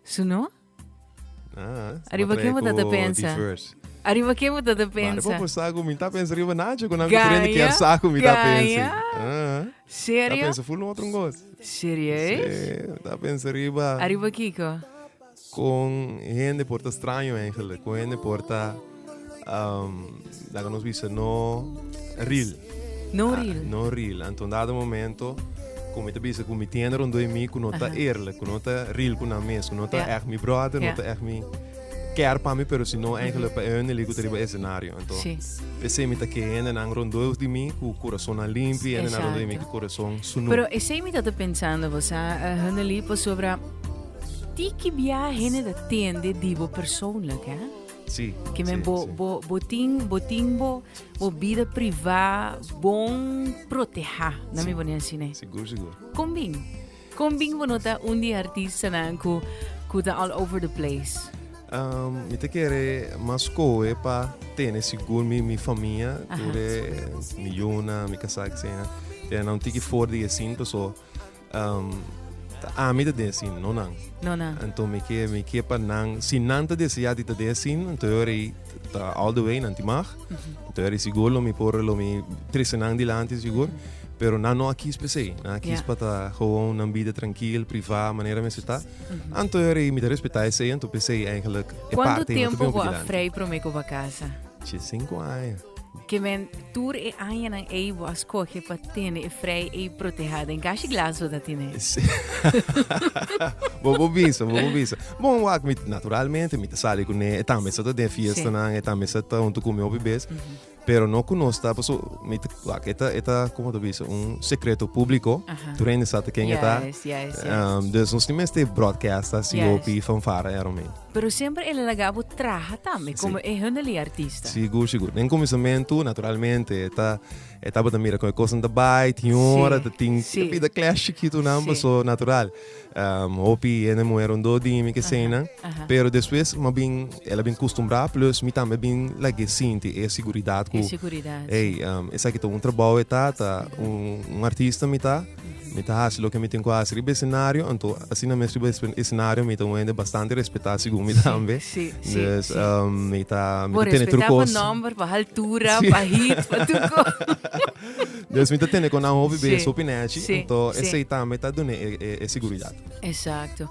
Su no? Ah, Arriba ken bo ta ta pensa? Arriba ken bo ta ta pensa? Mare popo sa ku mi ta pensa riba Nacho ku nan ku prende ken sa ku mi ta pensa. Serio? Ta pensa full otro ngos. Serieus? Si, ta pensa riba. Arriba kiko? Kon hende por ta straño engelek, kon hende por ta um, laga nos bisa no ril. No ah, ril. No ril. Anton dado momento como te bisa con mi tienda rondó en mí, que no está eerlijk, que no está real con la mes, que no está yeah. echt mi brother, yeah. no está echt mi care para mí, pero si no eigenlijk para él, le gustaría el escenario. Entonces, ese mi que gente nan rondó de mí, con corazón limpio, gente nan rondó de mí, con corazón sunu. Pero ese mi está pensando, vos, uh, Haneli, pues sobre Ti ki bia hende ta tende di bo persoonlijk, hè? Sí. Ke men bo bo bo tin bo tin bo bo bida privá bon protehá, na mi bo ne así ne. Sigur, sigur. Kombin. Kombin bo no ta un di artistanan ku ku ta all over the place. Um, mi te kere mas koe pa tene sigur mi mi famia, Aha. tur e mi yuna, mi kasak, sena. Tene na un tiki for di e sin, paso Um, ami ta den sin, no nan. No nan. Anto mi ke, mi ke pa nan, si nan ta desea di ta den sin, anto yo rei ta all the way, nan ti mag. Mm -hmm. Anto yo rei sigur lo mi por, lo mi trese nan dilanti sigur. Mm -hmm. Pero na no akis per se. Na akis yeah. pata gewoon nan bida tranquil, priva, manera men seta. Mm -hmm. Anto yo rei mi ta respeta ese, anto per se eigenlijk. E Quanto tempo go a vrij promeko ba casa? Che cinco años. Ke men tur e añanan ei bo a skohe pa tene e frei ei protehá den kashi glas bo ta tine? Bo por bisa, bo por bisa. Bon, wak mi naturalmente mi ta sali kuné, e tambe sa ta den fiestanan, e tambe sa ta huntu ku mi hopi bes, pero no ku nos ta, paso mi ta, wak e ta e ta komo ta bisa un sekreto públiko, tur hende sa ta ken e ta, dus nos tin mester bròdkèsta así hopi fanfara e aromein. Pero semper el a laga bo traha tambe como e Hunley artista. Sigur, sigur. Den cuminsamentu, naturalmente, e ta, e tabata mira con e cosnan ta bai, tin un ora ta tin, si. tapi ta clash chikitunan, Si. paso natural. Um, hopi hende muher un dos dimi ke eseinan, aha. pero despues mi a bin, el a bin custumbrá, plus mi tambe a bin like e sinti e seguridad cu, E seguridad, si. ey, um, esaki ta un trabou e ta, ta un, un artista mi ta. Mi ta hasi loke mi tin ku hasi riba e senario, anto asina mes riba e senario mi ta un hende bastante respetá segun mi tambe. Sí, sí, dus, sí. Um, mi ta, mi ta tene tur kos. pa nomber, pa altura, sí. pa hit, pa tur kos. dus mi ta tene kon nan hopi sí. beso pinechi, sí. anto sí. esei tambe ta dune e, e, e seguridad. Exacto.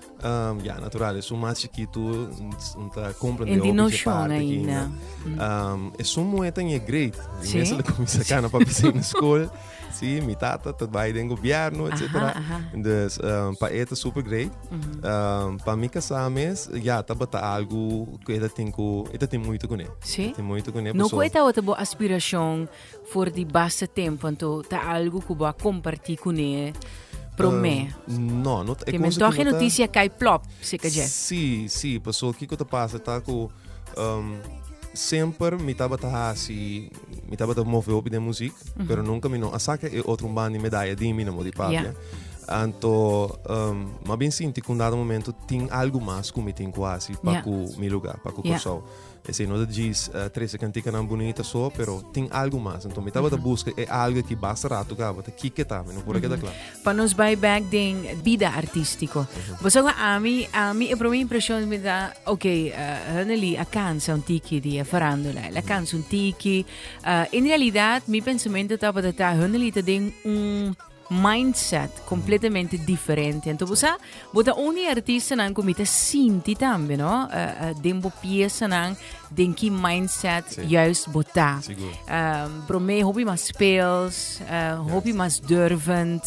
Um, ja, natural. Es un más chiquito, un ta compra de hopi de parte aquí. Um, es un mueta en el great. Sí? Mensen le comienza acá na papi zijn na school. Sí, mi tata tot bij den gobierno, et cetera. Dus um, pa eta super great. Um, pa mi casames, ja, ta bata algo que eta tengo, eta tengo muito con él. Sí? Tengo muito con él. No cu eta otra bo aspiración For di base tempo anto ta algu ku bo a kompartí kuné promé? Um, no, no ta. Ke men tohe notisia kai plop seka dje. Si, si, paso kiko ta pasa ta ku um, semper mi tabata hasi, mi tabata move hopi den muzik, mm -hmm. pero nunka mi no a saka e otro un bandi medaya di mi na modi papia. Yeah. Anto, um, ma bin sinti ku un dado momento tin algu mas ku mi tin ku hasi pa yeah. ku mi lugar, pa ku yeah. Kòrsou. Esei no ta djis trese cantikanan bunita so, pero tin algu mas. Anto mi tabata buska e algu ki basta ratu gabata. Kike ta? Mi no por a keda kla. Pa nos bai bek den bida artistiko. Bo sa ku ami, ami e prome impresion mi ta, ok, Randeli a kansa un tiki di e farandula. El a kansa un tiki. En realidat mi pensamento tabata ta, Randeli ta den un. mindset completamente diferente. Entonces, vos sa, vos ta un di artistanan cu mi ta sinti tambe, no? Uh, uh, den bo piesanan, den ki mindset sí. juist bo ta. Sigur. Um, bro, me hopi mas speels, uh, hopi yes. mas durvend.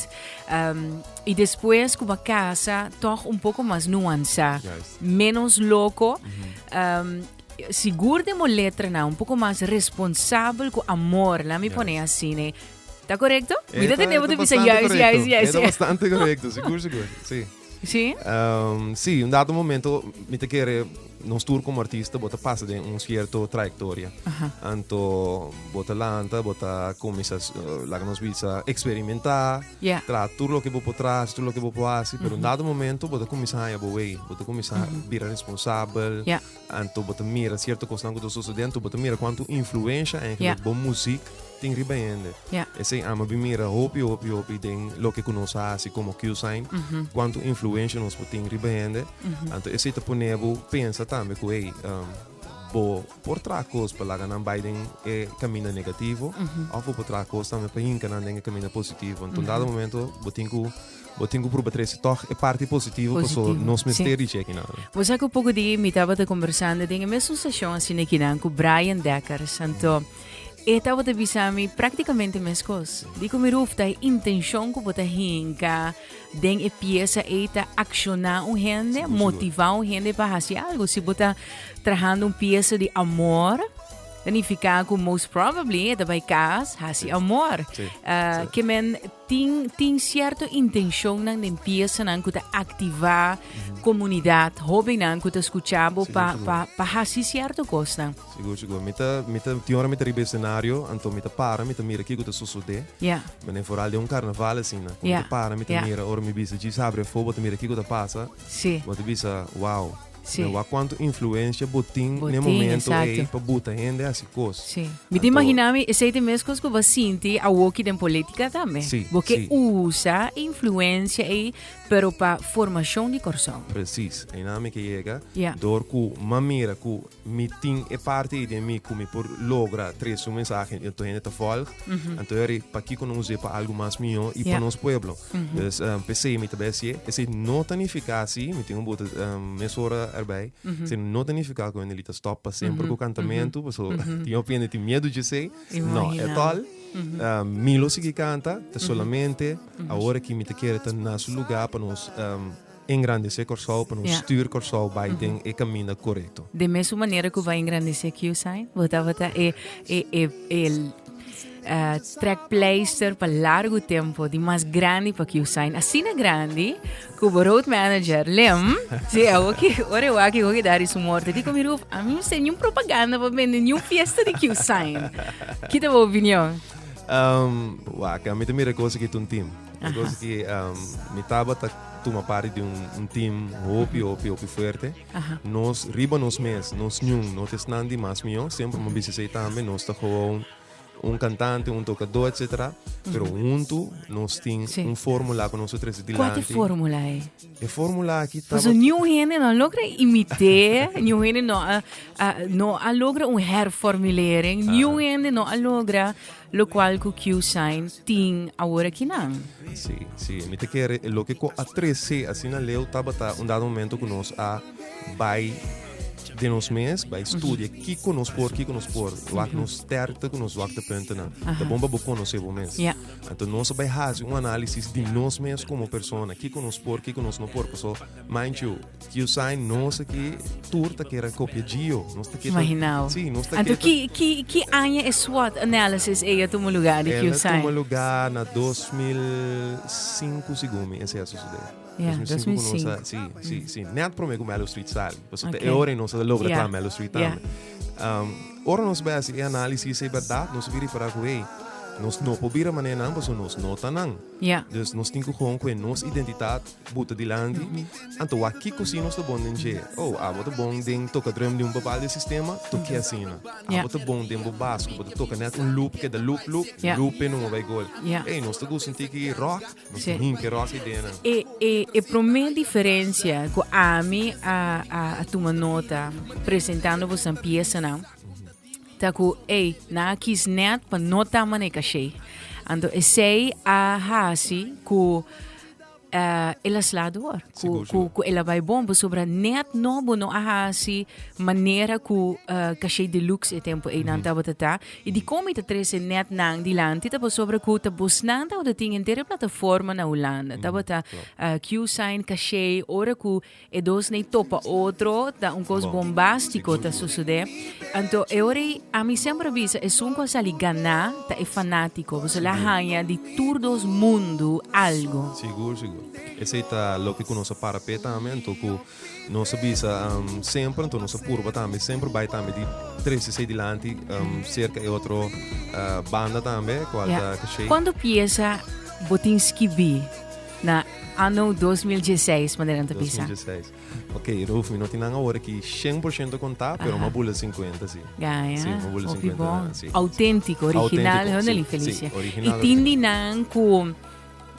Um, y después, como casa, toch un poco mas nuanza, yes. menos loco. Mm -hmm. um, sigur de mo letra na un poco mas responsabel con amor, la mi yes. pone así, ne, Ta korekto? Mi ta tende bo ta bisa juis, juis, juis. Eta bastante korekto, sigur, sigur. Si. Si? Um, si, un dato momento mi ta kere nos tur como artista bota pasa den un cierto trayectoria. Aha. Anto bota lanta, bota comienza, uh, la nos bisa experimentar, yeah. tra tur lo que bo potras, tur lo que bo poasi, pero mm -hmm. un dado momento bota comienza a bo way, bota comienza mm -hmm. bira responsable, yeah. Anto bo ta mira sierto kosnan ku ta sosodé, anto bo ta mira kuantu influensha eigenlijk bo muzik tin riba hende. Esei ama bin mira hopi, hopi, hopi den loke ku nos a hasi komo Q-Sign, kuantu influensha nos por tin riba hende. Anto esei ta pone bo pensa tambe ku hey, bo por traha kos pa laga nan bai den e kaminda negativo òf bo por traha kos tambe pa hinka nan den e kaminda positivo. Anto un dado momento bo tin ku. Bo tin cu pruba trece toch e parti positivo paso nos mester dici akinan. Bo sa cu poco dia mi tabata combersando den e mesun stacion asina akinan cu Brian Deckers, anto e tabata bisa mi practicamente mescos. Dico mi Rufta, e intencion cu bo ta hinca den e pieza ey ta acciona un hende, motiva un hende pa haci algo. Si bo ta trahando un pieza di amor, ta nifica cu most probably e ta bay cas haci amor. Ke men Tin tin cierto intencionnan den piesanan cu ta activa comunidad, hobennan cu ta scucha bo pa pa pa haci cierto cosnan. Sigur sigur mi ta mi ta tin ora mi ta riba e scenario anto mi ta para mi ta mira kico ta sosode Ja. den foral den un carnaval asina cu mi ta para mi ta mira ora mi bisa djis habri afogo bo ta mira kico ta pasa Si. bo ta bisa wow. Sí. Mi a wak kuantu influensia bo tin Bo na e tin, momento ei esakto. pa buta hende hasi kos. Sí. Mi ta Anto- imagina mi esei te mes kos ku bo a sinti awoki den politika tambe. Sí, Bo ke sí. usa e influensia ei pero pa formashon di Kòrsou. Presis, einan mi ke yega Ja. dor ku mi a mira ku mi tin e parti ei den mi ku mi por logra trese un mensahe i anto hende ta vòlg. Anto yari pakiko no usa e pa algu mas mihó i Ja. pa nos pueblo? Dus um, p'esei mi ta bai sié. Esei no ta nifiká si, mi tin un buta um, mesora erbij, esei no ta nifiká ku Wendelita stop pa semper ku kantamentu, paso tin hopi hende tin miedu djesei. No, Imagina. at all. Um, mi lo sigui kanta, ta solamente awor aki mi ta kere ta na su lugá pa nos um, Engrandecé Kòrsou pa nos stuur Kòrsou bai den e kaminda korekto. Den mesun manera ku bai engrandecé Kiusain, bo tabata e trekpleister pa largu tempo di mas grandi pa Kiusain. Asina grandi ku bo road manager Lem, si awor ke ora e wak e hopi dari su morto, e di ku mi Ruuf, ami no ser niun propaganda pa bende niun fiesta di Kiusain. Kita bo opinion? Wak, ami ta mira e kosa ki tuntim. E kosa ki mi tabata. tuma parti di un, un team hopi, hopi, hopi fuerte. Aha. Nos riba nos mes, nos ñun, no te snan di mas mio, siempre mo bisi sei tambe, nos ta gewoon un cantante, un tocador, etc. Pero junto nos tin Sí. un formula que nos ta trece Qual dilanti. é fórmula aí? E formula aqui tá Pues new hende no logra imitar, new hende no, a, a, no a logra un herformulering, new hende no a logra Locual cu Q-Shine tin aworakinan. Sí, sí. Mi ta kere e loke cu a trece asina leu tabata un dado momento cu nos a bay den nos mes, bay studia kiko nos por, kiko nos por, wak nos sterkte cu nos zwaktepuntenan. Ta bon pa bo conoce bo mes. Ja. Anto nos a bay haci un análisis di nos mes como persona, kiko nos por, kiko nos no por. Paso, mind you, Usain nos aki tur ta kere kopia Gio. Nos ta keta, Imaginao. Sí, nos ta Anto, keta. ki, ki, ki aña e SWOT analysis ei a tuma lugar di Ela tuma Usain? lugar na 2005 segun mi ese a sucede. Ja, 2005 ku nos 2005. a, sí, sí, sí. Net prome ku Mellow Street sali. Pasobra Ok. ta e ora nos a logra Ja, tra Mellow Street ja. tambe. Um, ora nos bai hasi e análisis ei berdad, nos a bira di pará ku hey, nos no por bira mané nan pasobra nos no ta nan. Ja. Dus nos tin ku hon ku e nos identitat Buta dilanti, anto wak kiko si nos ta bon den dje. Oh, abo ta bon den toka drum di un papal di sistema, toke asina. Abo ta bon den bo bas ku bo ta toka net un loop, keda loop, loop, loop e nungo bai gol. Ey, nos ta gusta un tiki rock, nos ta himpi rock ei den nan. E e e prome diferensia ku ami a a tuma nota presentando boso nan piesanan. Ta cu ey nan a kies net pa no ta manera cashey. Anto esey a haci cu eh, el a sla door. Cu, Sigur, cu, sigur. cu el a bay bon pasobra net nobo no a haci manera cu eh, cashey deluxe e tempo ey nan tabata ta. Y di como y ta trece net nan dilanti ta pasobra cu ta bosnan tabata tin henter e plataforma na Hulanda. Tabata eh, Q-Sign cashey ora cu E dos nei topa otro, ta un kos bombástiko ta sosodé. Anto e ora ei, ami semper a bisa, esun ku a sali ganá ta e fanátiko, boso la haña di tur dos mundu algu. Sigur, sigur. Esei ta loke ku nos a para p'e tambe, anto ku nos a bisa semper, anto nos a purba tambe semper bai tambe di tres di sei dilanti serka e otro banda tambe, kual ta kashei. Kuantu piesa bo tin skibí? Na ano dos mil diesseis, manera nan ta Dos mil bisa. diesseis. Oké, Ruf, mi no tin nan awor aki shen por shento kontá, pero mi a bula sinkuenta, sí. Gaya, Sí, mi a bula hopi sinkuenta bon. naran, sí. Auténtiko, original, Auténtiko, honorable sí, Felicia. sí, original, I tin original. di nan ku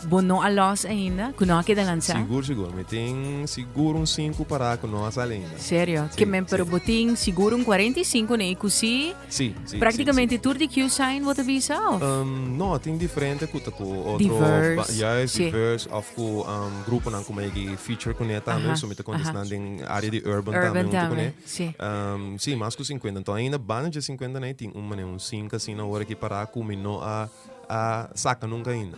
bo no a lòs ainda, ku no a keda lansá? Sigur, sigur. Mi tin sigur un sinku pará ku no a sali ainda. Serio? Sí, Ke men, pero sí. bo tin sigur un 45 ne'e ku sí? Sí, sí. Prácticamente tur di Q sign bo ta bisa of? Um, no, tin diferente ku ta ku otro diverse. Ba, ja es sí. diverse of ku um, grupo nan kuma yeki feature kune también, so mi ta contestan uh -huh. den área di urban, urban también tam kune. Sí. Um, sí, más ku 50. Entonces ainda banda de 50 na tin un mané un 5 así na hora ki para ku mi no a a saca nunca ainda.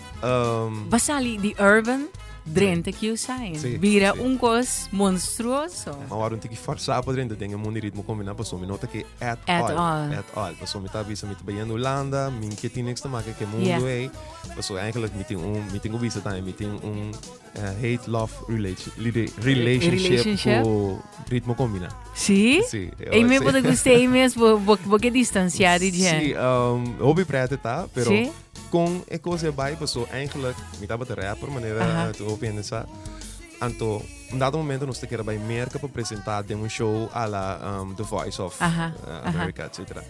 Um, Va sali di urban drente kiu sai. Sí, Bira sí. un kos monstruoso. Ma waarom tiki farsa pa drente den e mundo ritmo combinado pa somi nota que at, At all. all. At all. Pa somi ta bisa mi te bayan Holanda, min que tiene niks te maken que mundo Yeah. ei. Pa so eigenlijk mi tin un mi tin bisa también mi tin un eh, hate love relation, lide- relationship, Relationship? ku ritmo combinado. Sí? Sí, eh, Ei me sí. pode gustei mes, bo, bo, bo ke distanciar di dje. Sí, um, hobby prete ta, pero Sí? Kon e kos e bai paso eigenlijk mi tabata rapper manera Aha. tu opende sa. Anto un dado momento nos te kere bai merka pa presenta den un show a la um, The Voice of Aha, uh, aha. America, et cetera.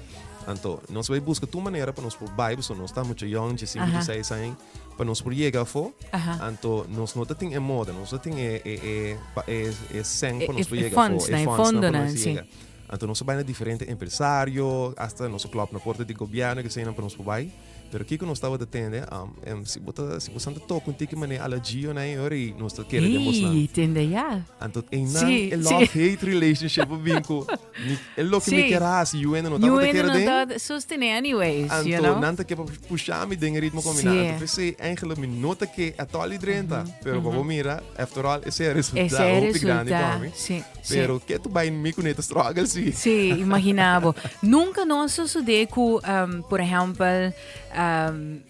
Anto nos bai busca tu manera pa nos por bai, paso nos ta mucho young, je 5, Aha. je 6 años, pa nos por llega fo. Aha. Anto nos no te tin e moda, nos te tin e e e pa- e e sen E- pa nos e- por e llega fo, funds, na, e fondonan, nos sí. llega. Anto nos a bai na diferente empresario, hasta nos a klòp na porta di gobièrnu i keseinan pa nos por bai. Pero kiko nos tabata tende? Em, si bo ta, si bo san ta toka un tiki manera a la Gio na ei ora i nos ta kere den bosnan. Ei, tende ya. Anto einan Sí, e sí. love-hate relationship a bin ku mi, e loke mi Sí. ker hasi, yu hende no Yu tabata hende kere no den. tabata sostené anyways, you Anto know. nan ta ke pa pusha mi den e ritmo ku mi na. Sí. Anto p'esei eigenlijk mi no ta ke at all i drenta. Pero pa bo mira, after all, esei a resulta Ese e hopi grandi pa resulta, mi. sí. Pero ke tu bai mi kune ta struggle si. Si, imagina bo. Nunca no a sosode ku, um, por ehempel, um,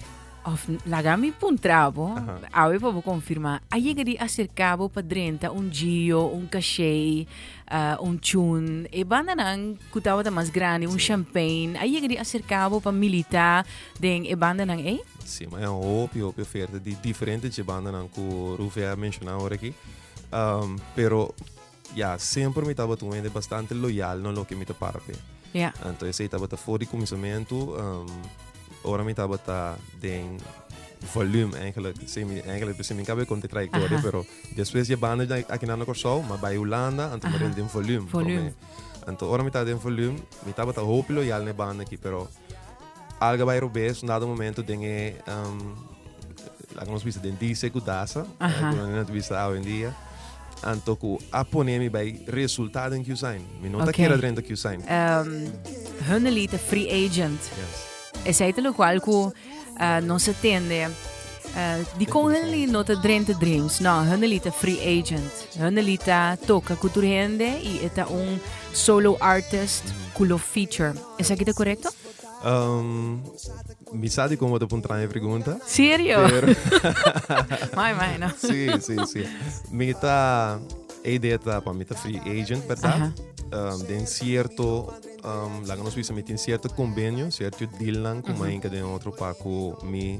of laga mi puntra bo, uh -huh. awe pa bo confirma, a yega di acerca bo pa drenta un gio, un cachet, uh, un chun, e banda nan ku tabata mas grande, un si. champagne, a yega di acerca bo pa milita den e banda nan ei? Si, ma e hopi, hopi oferta di diferente dje banda nan ku Ruve a menciona ora aki. Um, pero ya, siempre mi tabat un hende bastante loyal no lo que mi te parpe. Ja. Anto ese tabat voor die comisamento, um, ora mi tabat den volume eigenlijk. Se mi, eigenlijk, se mi cabe con de trayectoria, pero después je banda aquí na Corsou, maar bij Holanda, anto mi den volume. Volume. Anto ora mi tabat den volume, mi tabat hoop loyal ne banda aquí, pero Alga bai robes nado momento den e um, laga nos bisa den dice ku dasa, Aha. uh, no te bisa awendia. Anto ku a pone mi bai resultado en Q-sign. Mi no ta Okay. kera drenta Q-sign. Um, Hunnely te free agent. Yes. Es aí lo qual cu uh, não se tende uh, di com Hunnely não te drente dreams. Não, Hunnely te free agent. Hunnely tá toca cultura hende e é tá um solo artist culo feature. Esaki ta correcto? Um, mi sa di como te puntra mi pregunta. Serio? Pero... mai, mai, no? sí, sí, sí. Mi ta... E idea ta para mi ta free agent, ¿verdad? Um, den cierto... Um, la que nos dice, mi tiene cierto convenio, cierto deal con mm -hmm. mi en otro paco, mi...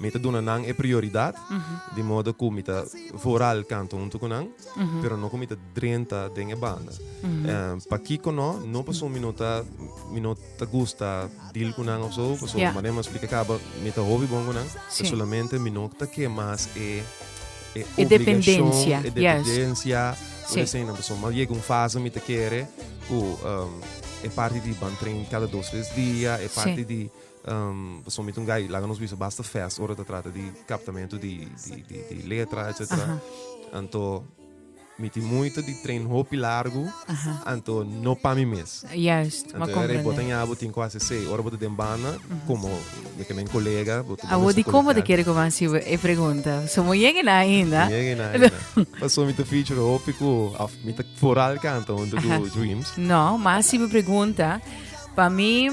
Mi ta duna nan e prioridad, di modo cu mi ta vooral canta hunto cu nan, pero no cu mi ta drenta den e banda. Eh, Pakico no? No pasobra mi no ta, mi no ta gusta deal cu nan of zo, pasobra Ya. manera mi a splica caba, mi ta hopi bon cu nan, Sí. pero solamente mi no ta ke mas e, e E obligacion, dependencia, e yes. dependencia, Sí. por esei nan, pasobra mi a yega un fase mi ta kere cu, ehm, e parti di bantren cada dos, tres dia, e parti di Pasobra mi ta un guy, laga nos bisa basta fast ora ta trata di captamento di letra, etcetera. Anto mi tin moeite di train hopi largu, anto no pa mi mes. Juist, bo a comprende. Anto era e bo ta ña bo tin cu haci esey. Ora bo ta den banda, como mi ta mi colega, bo ta Abo di como ta kere cu bo haci e pregunta? Pasobra bo yega na ainda. Mi yega na ainda. Pasobra mi ta feature hopi cu, of mi ta foral canta hunto cu Dreams. No, mas si bo pregunta, pa mi.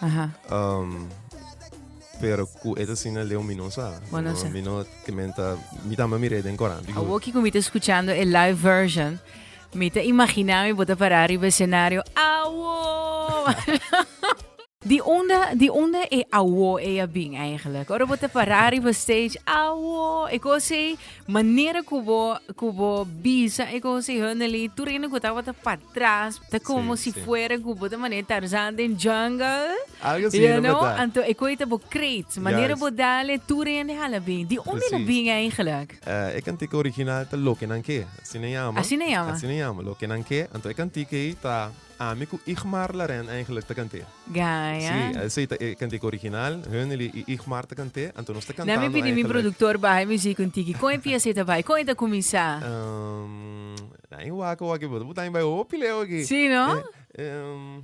Aha. Um, pero ku eta sina leo mi no sa. Bueno, no, sa. Mi no kementa, mi tamba mi reden koran. A woki ku mi te escuchando e live version, mi te imagina mi bota para arriba escenario. Awo! Di onda, di onda e awo e a bin eigenlijk? Ora bota para arriba stage, awo! E kosei, manera ku bo ku bo bisa e konsehon nan li tur hende ku tabata pa tras ta komo si fuera ku bo ta mané Tarzan den jungle algo si you know anto e koi ta bo kreet manera bo dale tur hende hala bin di unde lo bin eigenlijk uh, e kantika original ta loke nan ke asina yama asina yama asina yama loke nan ke anto e kantika ei ta Ami ku Igmar Laren eigenlijk ta kant'é. Gaya. Sí, esei ta e kantika original, Höneli i Igmar ta kant'é, anto nos ta kantando eigenlijk. Na mi pidi mi produktor baha e muziek un tiki. Kon e piesa ei ta bai? Kon ei ta kuminsá? Ehm, na ein wak awak ei bo ta botá ein bai hopi leu aki. Sí, no? Ehm,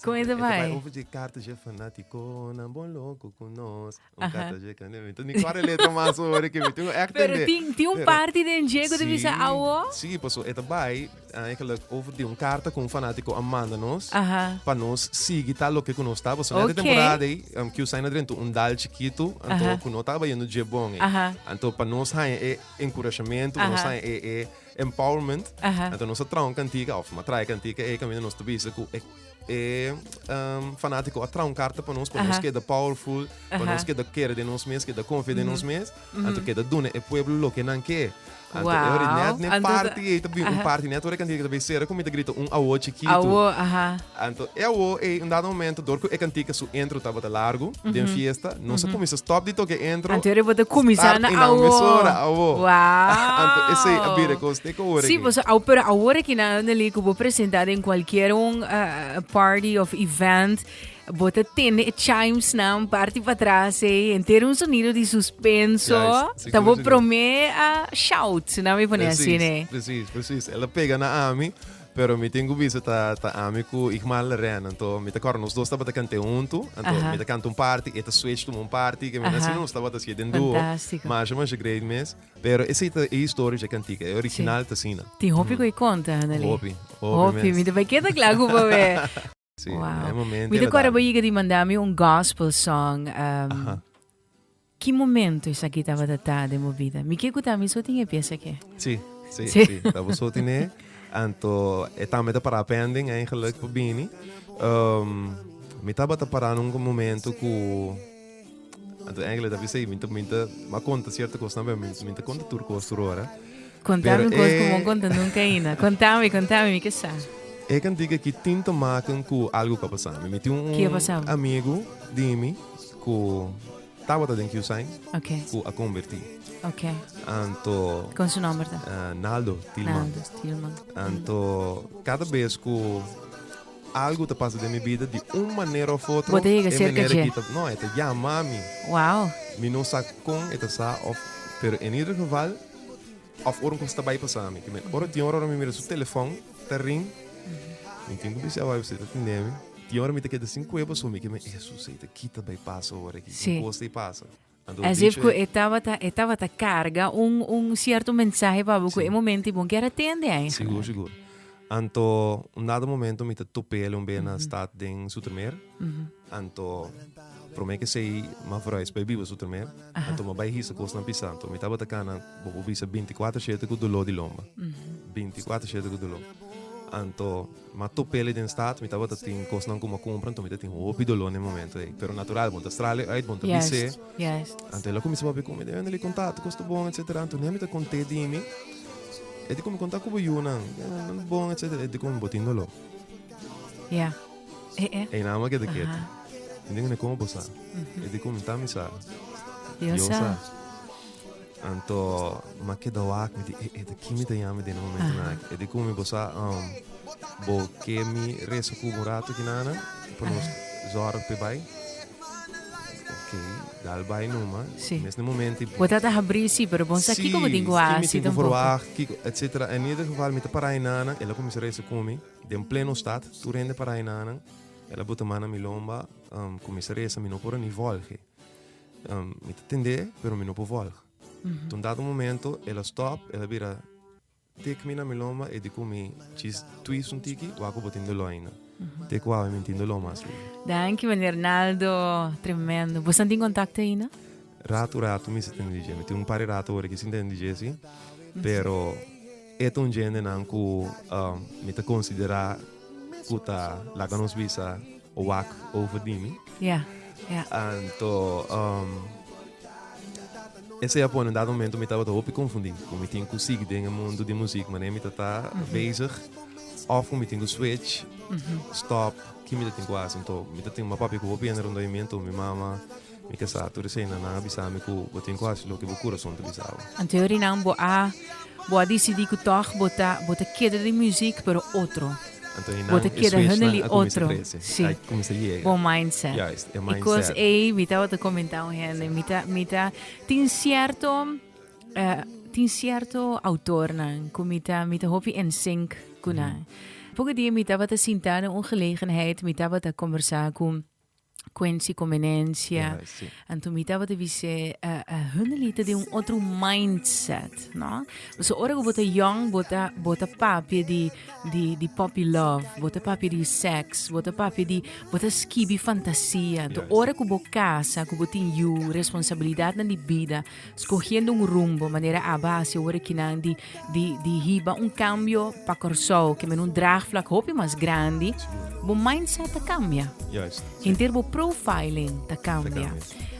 Kon ei ta bai? Ei ta bai over dje karta dje fanatikonan bon loko ku nos. Un kata dje ka nebe. Entos mi kòrda e letra mas so wòrdu ke mi tin ku èk tende. Pero tin tin un parti den dje ku ta bisa awo? Sí, sí, pasobra e ta bai e gèlèk over di un karta ku un fanátiko a manda nos pa nos sigui tal loke ku nos ta. Pasobra nèt e temporada ei kiu sai na drento un dal chikitu anto ku no tabata yendo dje bon ei. Anto pa nos haña e enkurashamentu, pa nos haña e empowerment, anto nos a traha un kantika òf a traha e kantika ei kaminda nos ta bisa ku e. e um, fanático a traun carta para nos, para nos queda powerful, para nos queda querer de nos mes, queda confia de nos mes, anto queda dune e pueblo lo que nan que. Anto wow. ori net ne party, e tabi un party net ori cantica tabi sera comita grita un awo chiquito. Awo, aha. Anto e awo e un dado momento dor que e cantica su intro tabata largo, den fiesta, no se comienza stop di toque intro. Anto ori bota comienza na awo. Start in a mesora, awo. Wow. Anto ese abire coste Si, boso a, pero awor aki na Elder Lee ku bo presenta den kualkier un uh, party of event, bo te tende e chimes nan party pa tras ei, entero un sonido di suspenso, yes, ta bo prome a uh, shout, na mi pone así, ne? Precies, precies. Ela pega na ami, pero mi tengo bisa ta, ta ami ku Igmal Leren, anto mi te kor nos dos tabata kante huntu, anto mi te kante un party, eta switch tum un party, ke mi nasi nos tabata si den duo, masha masha great mes. Pero esey ta e historia dje cantica. E original ta asina. Tin hopi cu e conta, Anali. Hopi, hopi Hopi, mens. mi ta bay keda cla cu bo bay. Si, e Wow. momento Mi e ta la cuadra bo dal. yiga di manda mi un gospel song. Um, Aha. ki momento esaki tabata ta den bo bida? Mi ke cu ta mi so tin e piesa eke. Si, si, Si. si. Ta bo so tin e. Anto e tambe ta para pending en geluk pa bini. Um, mi tabata para na un momento cu. Anto Angela ta bisa, mi ta, mi ta, ma konta sierto kos na bem, mi, mi ta konta tur kos tur ora. Kontami un kos ku mon konta nunka aina. Kontami, kontami, mi ke sa. E kantika ki tin ta maken ku algu ku a pasa mi. Mi tin un Ki a pasa bo? amigu di mi ku tabata den Q-Sign Ok, ku a konvertí. ok. Anto Kon su nòmber ta? ah, Naldo Tilman. Naldo Tilman. Anto kada bes ku Algu ta pasa den mi bida di un manera of otro. Bo ta yega cerca dje. E manera ki no e ta yama mi. Wow. Mi no sa con e ta sa of pero en ieder geval of ora un cosa ta bay pasa mi. Ora tin ora mi mira su telefon ta ring mi tin cu bisa awor usted ta tende mi. Tin ora mi ta keda sin cuerpo so mi kimen Jesus ey ta kita bay pasa awor aki con cosa ey pasa. As if cu e tabata, e tabata carga un, un cierto mensahe pa bo cu e momento y bon kier a tende ahí. Sigur, sigur. Anto, un dado momento mi ta topé el un bey na stad den Zoetermeer. Anto, prome ke sei ma verhuis bay biba Zoetermeer. Anto ma bay hisa cosnan pisa. Anto mi tabata cana, bo por bisa binti cuater shete cu dolor di lomba. Binti cuater shete cu dolor. Anto. Ma tur peli den stat mi tabata tin kosnan ku mi a kumpra anto mi ta tin hopi doló na e momento ei. Pero natural bo ta strali uit, bo ta bis'é. Anto el a kuminsá papia ku mi, Daniel e kontakto ku esta bon etsetera. Anto nèmi ta kont'é di mi, E dikon mi konta ku bo yunan? Nan ta bon etsetera. E dikon bo tin doló? Einan bo a keda ketu. Mi dinga, Komo bo sa? E dikon, Tami sa. Yo sa. Anto ma keda wak mi di e e de ki mi ta yami den momento na aki. E di kumi bo sa um, bo ke mi resa ku bo rato ki nana pa nos zorg pe bai. Ok, dal bai numa. Sí. Mes den momento i Bo ta ta habri si, pero bon sa Sí, kiko bo tin ku ki mi hasi tin ku tampoco. verwag, kiko, etcetera. En ieder geval mi ta para e nana, el a kuminsá resa ku mi den pleno stad, tur hende para e nanan. El a bota man na mi lomba, um, kuminsá resa, mi no por a ni vòlg'e. Um, mi ta tende, pero mi no por volg. Tot un dado momento, ela stop, ela bira tik mi na mi lomba e di ku mi chis twist un tiki, wak ku bo tin dolor ainda. Te ku awe mi tin dolor mas lugu. Danki, meneer Naldo. Tremendo. Bo san tin contacto ainda? Rato, rato mi sa tende DJ. Mi tin un par di rato ora ki sin tende DJ, sí. Pero E ta un djendenan ku mi ta konsiderá ku ta laga nos bisa wak over di mi. Ya, ya. Anto, esei a pone un dado momento mi tabata hopi konfundí ku mi tin ku sigui den e mundu di muzik manera mi ta ta bezig òf ku mi tin ku switch, stòp, ke mi ta tin ku hasi. Anto mi ta tin ku mi papia ku hopi hende rondó e mi anto mi mama. Mi ta sa, tur eseinan nan a bisa mi ku bo tin ku hasi loke bo kurason ta bisa bo. Anterior di nan bo a bo a disidí ku tòg bo ta bo ta keda den musiek pero otro. Anto bo ta keda hende li otro. Si. Bo mindset. E kos ei mi tabata komentá un hende mi ta mi ta tin sierto tin sierto outornan ku mi ta mi ta hopi ensink ku nan. Poco dia mi tabata sintá den un gelegenheid mi tabata kombersá ku. Quincy Convenencia. Yeah, sí. Anto mi tabata bisé, uh, uh, Hunley ta de un otro mindset, no? So ora que bota young, bota bota papia di di di puppy love, bota papia di sex, bota papia di bota skibi fantasia. Anto yeah, ora que bo casa, que bo tin you, responsabilidad na di vida, Scogiendo un rumbo, manera aba haci awor aki nan di, di, di hiba un cambio pa Corsou, kember un draagvlak hopi mas grandi, bo mindset ta cambia. Juist. Henter bo profiling ta cambia.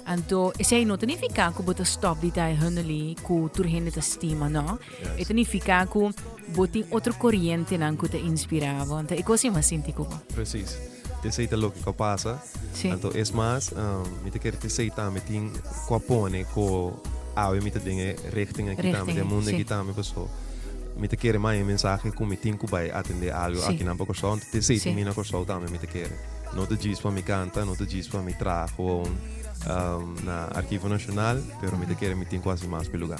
Anto, esei no ta nifica cu bo ta stop di ta e Hunnely cu tur hende ta stima, no. E ta nifiká ku bo tin otro korientenan ku ta inspirá bo. Anto e kos ei m'a sinti ku bo. Presis. Esei ta loke ku a pasa. Sí. Anto es mas mi ta kere ku esei tambe tin ku a pone ku awe mi ta den e richting aki tambe, den e mundu aki tambe. Pasobra mi ta kere manda e mensahe ku mi tin ku bai atendé algu akinan pa Kòrsou. Anto esei tin bini na Kòrsou tambe mi ta kere. No ta djis pa mi kanta, no ta djis pa mi traha aun na Arkivo Nashonal, pero mi ta kere mi tin ku hasi mas pa e lugá.